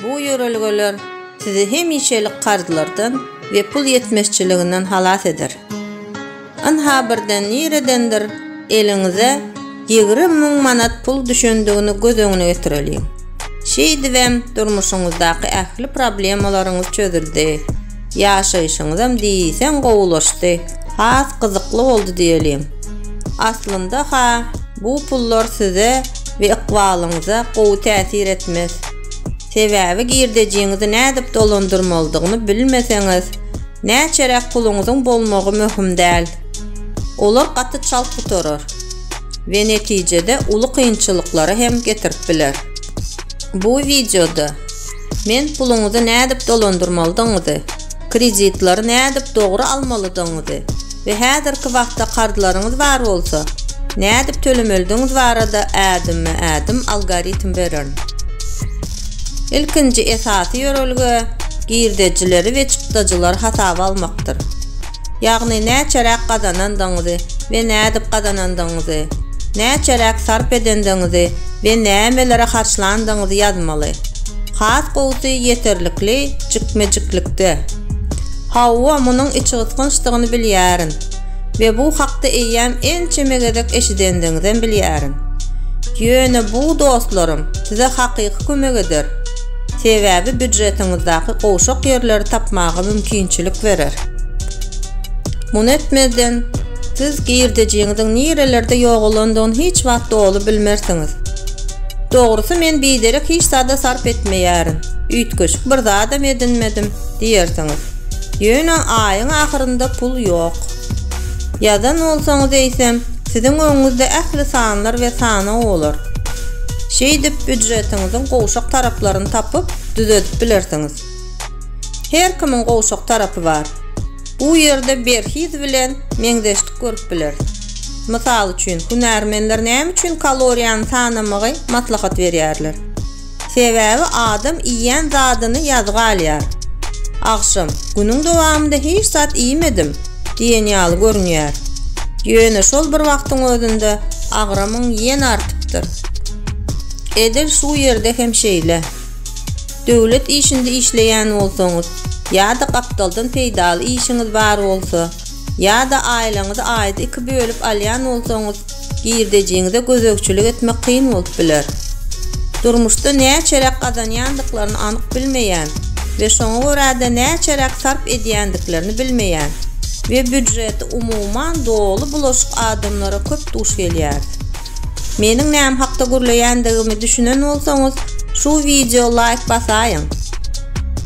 Bu ýörelgeler sizi hemişelik karzlardan we pul ýetmezçiliginden halas eder. Ynha birden niredendir eliňize ýigrimi müň manat pul düşendigini göz öňüne getireliň. Şeýdibem durmuşyňyzdaky ähli problemalaryňyz çözüldi. Ýaşaýşyňyzam diýseň gowulaşdy. Has gyzykly boldy diýeliň. Aslynda-ha, bu pullar size we ykbalyňyza gowy täsir etmez. Sebäbi girdejiňizi nädip dolandyrmalydygyny bilmeseňiz, näçeräk puluňyzyň bolmagy möhüm däl. Olar gaty çalt gutarar we netijede uly kynçylyklara hem getirip biler. Bu wideoda. Men puluňyzy nädip dolandyrmalydygyňyzy, kreditlary nädip dogry almalydygyňyzy we häzirki wagtda karzlaryňyz bar bolsa, nädip tölemelidigiňiz barada ädimme-ädim algoritm bererin. Ilkinji esasy ýörelge girdejileri we çykdajylary hasaba almakdyr. ýagny näçeräk gazanandygyňyzy we nädip gazanandygyňyzy, näçeräk sarp edendigiňizi we nämelere harçlandygyňyzy ýazmaly. Has gowusy ýeterlikli jikme-jiklikde. Hawa, munuň içgysgynçdygyny bilýärin we bu hakda eýýäm ençeme gezek eşidendigiňizem bilýärin. Ýöne bu, dostlarym, size hakyky kömek eder. sebäbi býudjetiňizdaky gowşak ýerleri tapmaga mümkinçilik berer. Muny etmezden, siz girdejiňiziň nirelerde ýogalandygyny hiç wagt doly bilmersiňiz. Dogrusy men biderek hiç zada sarp etmeýärin, üýtgeşik bir zadam edinmedim diýersiňiz. Ýöne aýyň ahyrynda pul ýok. Ýazan bolsaňyz eýsem, siziň öňüňizde ähli sanlar we sanao bolar. Şeýdip, býudjetiňiziň gowşak taraplaryny tapyp, düzedip bilersiňiz. Her kimiň gowşak tarapy bar. Bu ýerde berhiz bilen meňzeşlik görüp bileris. Mysal üçin, hünärmenler näme üçin kaloriýany sanamagy maslahat berýärler? Sebäbi adam iýýän zadyny ýazga alýar. Agşam, Günüň dowamynda hiç zat iýmedim diýen ýaly görünýär. Ýöne şol bir wagtyň özünde agramyň ýene artypdyr. Edil şu ýerde hem şeýle. Döwlet işinde işleýän bolsaňyz ýa-da gapdaldan peýdaly işiňiz bar bolsa, ýa-da aýlaňyzy aýda iki bölüp alýan bolsaňyz, Girdejiňize gözegçilik etmek kyn bolup biler. Durmuşda näçeräk gazanýandyklaryny anyk bilmeýän we şoňa görä-de näçeräk sarp edýändiklerini bilmeýän we býudžeti umuman doly bulaşyk adamlara köp duş gelýäris. Meniň näme hakda gürleýändigimi düşünen bolsaňyz şu wideo laýk basaýyň.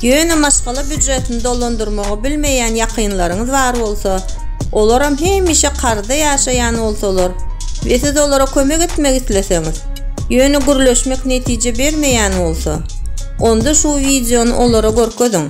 Ýöne maşgala býujetini dolandyrmagy bilmeýän ýakynlaryňyz bar bolsa, olaram hemişe karzda ýaşaýan bolsalar we siz olara kömek etmek isleseňiz, ýöne gürleşmek netije bermeýän bolsa, onda şu wideony olara görkeziň.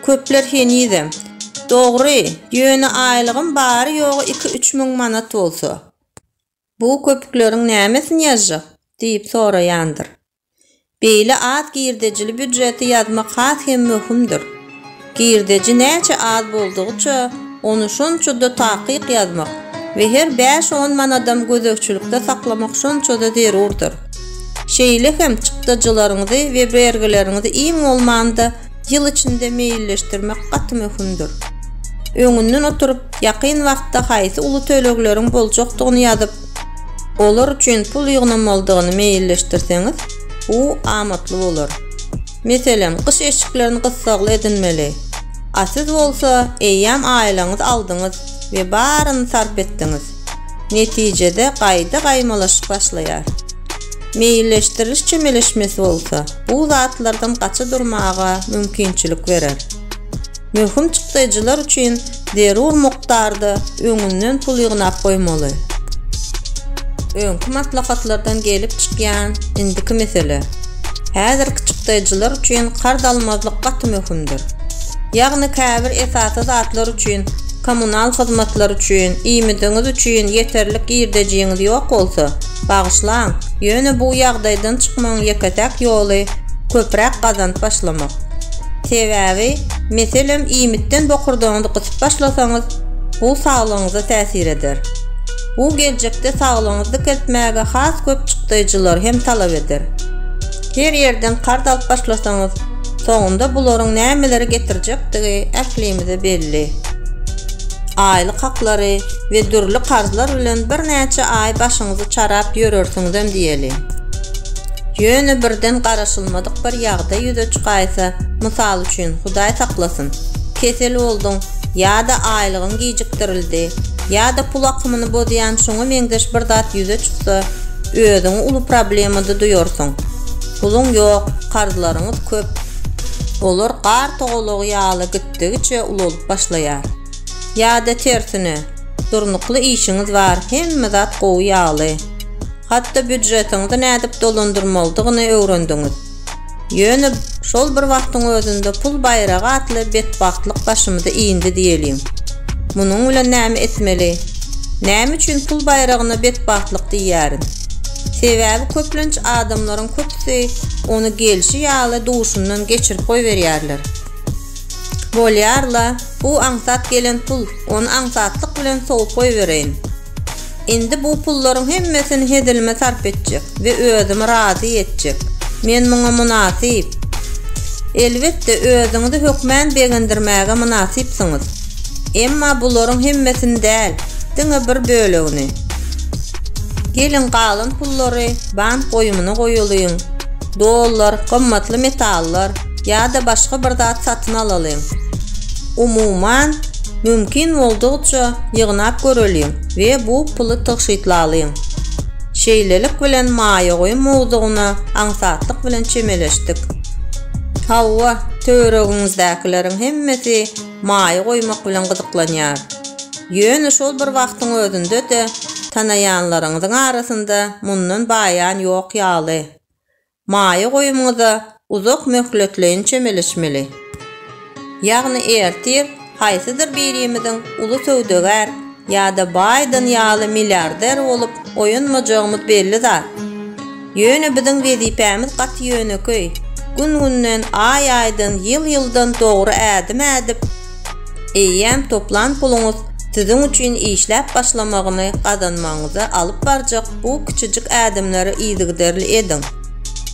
Köpler henizem, Dogry, ýöne aýlygym bary-ýogy iki-üç müň manat bolsa, bu köpükleriň nämesini ýazjak? diýip soraýandyr. Beýle az girdejili býujeti ýazmak has hem möhümdir. Girdeji näçe az boldugyça, ony şonça-da takyk ýazmak we her bäş-on manadam gözegçilikde saklamak şonça-da zerurdyr. Şeýle hem çykdajylaryňyzy we bergileriňizi iň bolmanda ýyl içinde meýilleşdirmek gaty möhümdir. Öňünden oturyp, ýakyn wagtda haýsy uly tölegleriň boljakdygyny ýazyp, olar üçin pul ýygnamalydygyny meýilleşdirseňiz, bu amatly bolar. Meselem, gyş eşiklerini gyssagly edinmeli. A siz bolsa, eýýäm aýlaňyzy aldyňyz we baryny sarp etdiňiz. Netijede gaýda gaýmalaşyk başlaýar. Meýilleşdiriliş çemeleşmesi bolsa, bu zatlardan gaça durmaga mümkinçilik berer. Möhüm çykdaýjylar üçin zerur mukdarda öňünden pul ýygnap goýmaly. Öňki maslahatlardan gelip çykýan indiki mesele, häzirki çykdaýjylar üçin karz almazlyk gaty möhümdir. Ýagny käbir esasy zatlar üçin, kommunal hyzmatlar üçin, iýmidiňiz üçin ýeterlik girdejiňiz ýok bolsa, Bagyşlaň, ýöne bu ýagdaýdan çykmagyň ýeke-täk ýoly köpräk gazanyp başlamak. Sebäbi, meselem, iýmitden bokurdagyňyzy gysyp başlasaňyz, bu saglygyňyza täsir eder. Bu geljekde saglygyňyzy dikeltmäge has köp çykdaýjylary hem talap eder. Her ýerden karz alyp başlasaňyz, soňunda bularyň nämeleri getirjekdigi ählimize belli. Aýlyk haklary we dürli karzlar bilen birnäçe aý başyňyzy çarap ýörersiňizem diýeli. Ýöne birden garaşylmadyk bir ýagdaý ýüze çykaýsa, mysal üçin, Hudaý saklasyn, kesel bolduň ýa-da aýlygyň gijikdirildi ýa-da pul akymyny bozýan şuňa meňzeş bir zat ýüze çyksa, özüňi uly problemada duýarsyň. Puluň ýok, karzlaryňyz köp. Olar gar togalagy ýaly gitdigiçe ulalyp başlaýar. Ýa-da tersine, durnukly işiňiz bar, hemme zat gowy ýaly. Hatda býudjetiňizi nädip dolandyrmalydygyny öwrendiňiz. Ýöne şol bir wagtyň özünde pul baýragy atly betbagtlyk başymyzy iýindi diýeliň. Munuň bilen näme etmeli? Näme üçin pul baýragyna betbagtlyk diýýärin? Sebäbi köplenç adamlaryň köpüsi ony gelşi ýaly duşundan geçirip goýberýärler. Bolýar-la, bu aňsat gelen pul, ony aňsatlyk bilen sowup goýbereýin. Indi bu pullaryň hemmesini hezilime sarp etjek we özümi razy etjek. Men muňa mynasyp. Elbetde, özüňizi hökmän begendirmäge mynasypsyňyz. Emma bularyň hemmesini däl, diňe bir bölegini. Geliň, galan pullary bank goýumyna goýalyň. Dollar, gymmatly metallar. Ýa-da başga bir zat satyn alalyň. Umuman, mümkin boldugyça ýygnap göreliň we bu puly tygşytlalyň. Şeýlelik bilen maýa goýum mowzugyna aňsatlyk bilen çemeleşdik. Hawa, töweregiňizdäkileriň hemmesi maýa goýmak bilen gyzyklanýar. Ýöne şol bir wagtyň özünde-de tanaýanlaryňyzyň arasynda mundan baýan ýok ýaly. Maýa goýumyňyza uzak möhletleýin çemeleşmeli. Ýagny ertir haýsydyr birimiziň uly söwdagär ýa-da Baýden ýaly milliarder bolup oýanmajagymyz belli zat. Ýöne biziň wezipämiz gaty ýönekeý, gün-günden, aý-aýdan, ýyl-ýyldan dogry ädim ädip, Eýýäm toplan puluňyz siziň üçin işläp başlamagyny gazanmagyňyza alyp barjak bu kiçijik ädimleri yzygiderli ediň.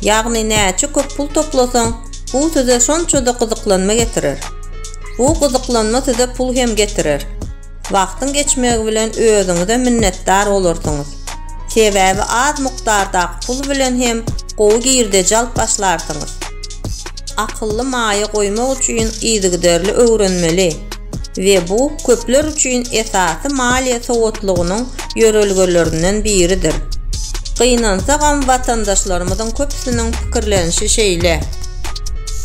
Ýagny näçe köp pul toplasaň, bu size şonça-da gyzyklanma getirer. Bu gyzyklanma size pul hem getirer. Wagtyň geçmegi bilen özüňize minnetdar bolarsyňyz. Sebäbi az mukdardaky pul bilen hem gowy girdeji alyp başlarsyňyz. Akylly maýa goýmak üçin yzygiderli öwrenmeli we bu köpler üçin esasy maliýe sowatlygynyň ýörelgelerinden biridir. Gynansagam watandaşlarymyzyň köpüsiniň pikirlenişi şeýle.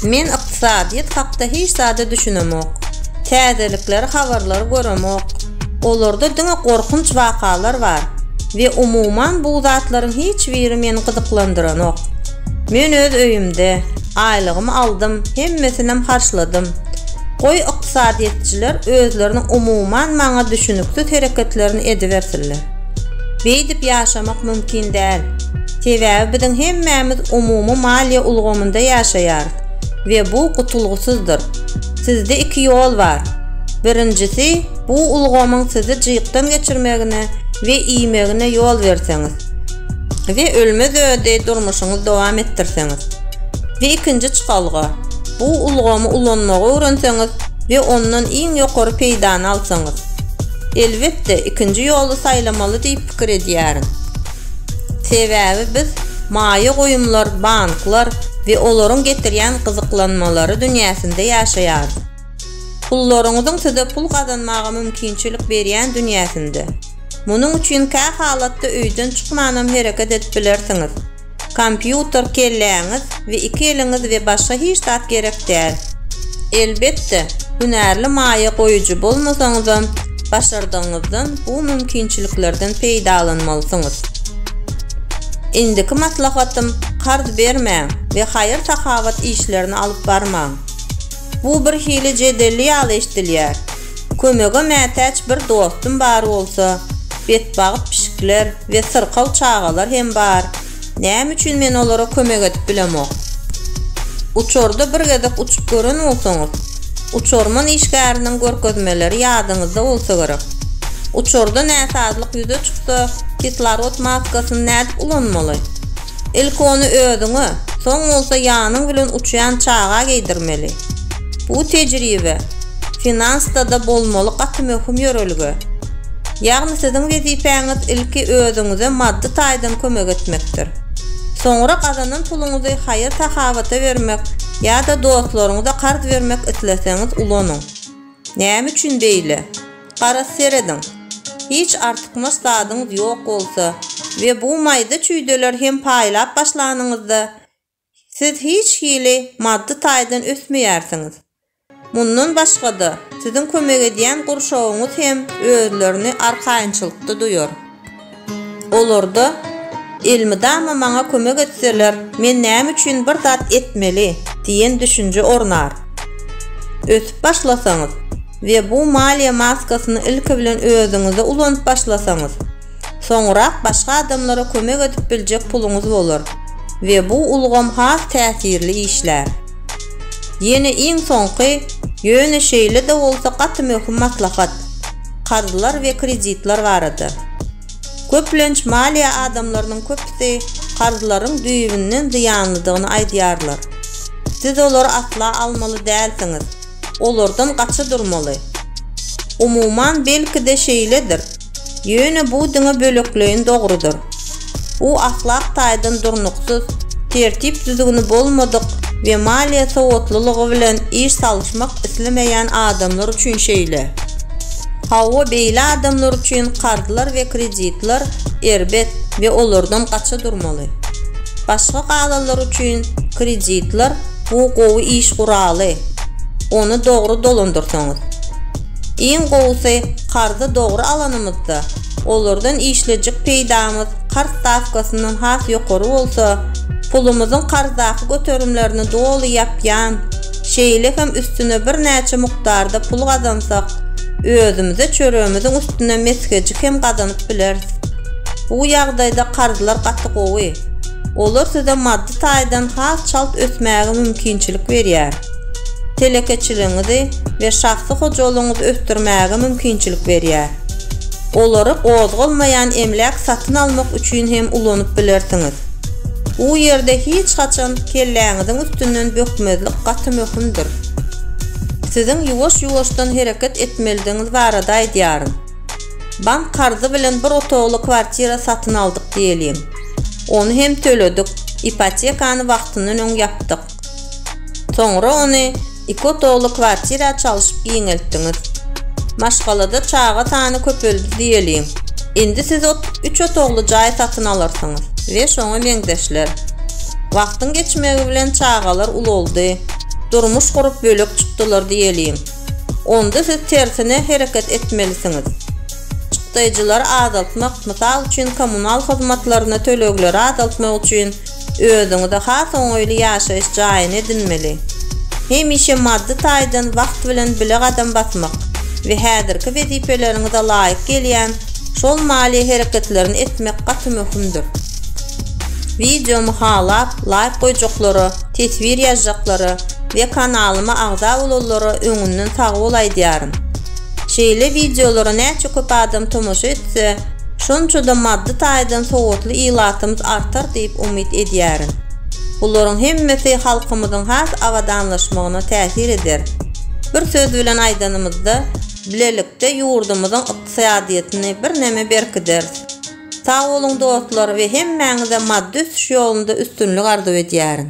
Men Ykdysadyýet hakda hiç zada düşünemok. Täzelikleri habarlary göremok. Olarda diňe gorkunç wakalar bar we umuman bu zatlaryň hiç biri meni gyzyklandyranok. Men öz öýümde, aýlygymy aldym, hemmesinem harçladym. Goý ykdysadyýetçiler özleriniň umuman maňa düşüniksiz hereketlerini edibersinler. Beýdip ýaşamak mümkin däl. Sebäbi biziň hemmämiz umumy maliýe ulgamynda ýaşaýarys. we bu gutulgysyzdyr. Sizde iki ýol bar. Birinjisi, bu ulgamyň sizi jykdan geçirmegine we iýmegine ýol berseňiz we ölmez-ödi durmuşyňyzy dowam etdirseňiz. We ikinji çykalga, bu ulgamy ulanmagy öwrenseňiz we ondan iň ýokary peýdany alsaňyz. Elbetde, ikinji ýoly saýlamaly diýip pikir edýärin. Sebäbi biz maýa goýumlar, banklar we olaryň getirýän gyzyklanmalary dünýäsinde ýaşaýarys. Pullaryňyzyň size pul gazanmaga mümkinçilik berýän dünýäsinde. Munuň üçin kähalatda öýden çykmanam hereket edip bilersiňiz. Kompýuter kelläňiz we iki eliňiz we başga hiç zat gerek däl. Elbetde, hünärli maýa goýujy bolmasaňyzam, başardygyňyzdan bu mümkinçiliklerden peýdalanmalysyňyz. Indiki maslahatym karz bermäň we haýyr-sahawat işlerini alyp barmaň. Bu birhili jedelli ýaly eşdilýär. Kömege mätäç bir dostum bar bolsa, betbagt pişikler we syrkaw çagalar hem bar. Näme üçin men olara kömek edip bilemok? Uçarda bir gezek uçup gören bolsaňyz, uçarman işgäriniň görkezmeleri ýadyňyzda bolsa gerek. Uçarda näsazlyk ýüze çyksa, kislorod maskasyny nädip ulanmaly? Ilki ony özüňe, soň bolsa ýanyň bilen uçýan çaga geýdirmeli. Bu tejribe finansda-da bolmaly gaty möhüm ýörelge. Ýagny siziň wezipäňiz ilki özüňize maddy taýdan kömek etmekdir. Soňra gazanan puluňyzy haýyr-sahawata bermek ýa-da dostlaryňyza karz bermek isleseňiz ulanyň. Näme üçin beýle? Garaz serediň. Hiç artykmaç zadyňyz ýok bolsa we bu maýda çüýdeler hem paýlap başlanyňyzda, siz hiç hili maddy taýdan ösmeýärsiňiz. Mundan başga-da, siziň kömek edýän gurşawyňyz hem özlerini arkaýynçylykda duýar. Olarda, Elmydama maňa kömek etseler, men näme üçin bir zat etmeli? diýen düşünje ornar. Ösüp başlasaňyz we bu maliýe maskasyny ilki bilen özüňizde ulanyp başlasaňyz, soňurak başga adamlara kömek edip biljek puluňyz bolar we bu ulgam has täsirli işlär. Ýene iň soňky, ýöne şeýle-de bolsa gaty möhüm maslahat. karzlar we kreditler barada. Köplenç maliýe adamlarynyň köpüsi karzlaryň düýbünden zyýanlydygyny aýdýarlar. Siz olary asla almaly dälsiňiz, olardan gaça durmaly. Umuman, belki-de şeýledir, ýöne bu diňe bölekleýin dogrudyr. Bu ahlak taýdan durnuksyz, tertip-düzgüni bolmadyk we maliýe sowatlylygy bilen iş salyşmak islemeýän adamlar üçin şeýle. Hawa, beýle adamlar üçin karzlar we kreditler erbet we olardan gaça durmaly. Başga kalalar üçin kreditler bu gowy iş guraly, ony dogry dolandyrsaňyz. Iň gowusy karzy dogry alanymyzda, Olardan işlejek peýdamyz karz stawkasyndan has ýokary bolsa, pulumyzyň karzdaky göterimlerini doly ýapýan, şeýle hem üstüne birnäçe mukdarda pul gazansak, özümize çöregimiziň üstüne mesgejik hem gazanyp bileris. Bu ýagdaýda karzlar gaty gowy. Olar size maddy taýdan has çalt ösmäge mümkinçilik berýär. Telekeçiligiňizi we şahsy hojalygyňyzy ösdürmäge mümkinçilik berýär. Olary gozgalmaýan emläk satyn almak üçin hem ulanyp bilersiňiz. Bu ýerde hiç haçan kelläňiziň üstünden bökmezlik gaty möhümdir. Siziň ýuwaş-ýuwaşdan hereket etmelidigiňiz barada aýdýaryn. Bank karzy bilen bir otagly kwartira satyn aldyk diýeliň. Ony hem töledik, ipotekany wagtyndan öň ýapdyk. Soňra ony iki otagly kwartira çalyşyp giňeltdiňiz. Maşgalada çaga sany köpeldi diýeliň. Indi siz üç otagly jaý satyn alarsyňyz we şoňa meňzeşler. Wagtyň geçmegi bilen çagalar ulaldy, durmuş gurup bölek çykdylar diýeliň. Onda siz tersine hereket etmelisiňiz. Çykdaýjylary azaltmak, mysal üçin kommunal hyzmatlaryna tölegleri azaltmak üçin Özüňize has oňaýly ýaşaýyş jaýyny edinmeli. Hemişe maddy taýdan wagt bilen bile gadam basmak we häzirki wezipeleriňize laýyk gelýän şol maliýe hereketlerini etmek gaty möhümdir. Wideomy halap, laýk goýjaklara, teswir ýazjaklara we kanalyma agza bolanlara öňünden sagbol aýdýaryn. Şeýle wideolara näçe köp adam tomaşa etse, şonça-da maddy taýdan sowatly ilatymyz artar diýip umyt edýärin. Bularyň hemmesi halkymyzyň has abadanlaşmagyna täsir eder. Bir söz bilen aýdanymyzda, bilelikde ýurdumyzyň ykdysadyýetini birneme berkideris. Sag boluň dostlar we hemmäňize maddy ösüş ýolunda üstünlik arzuw edýärin.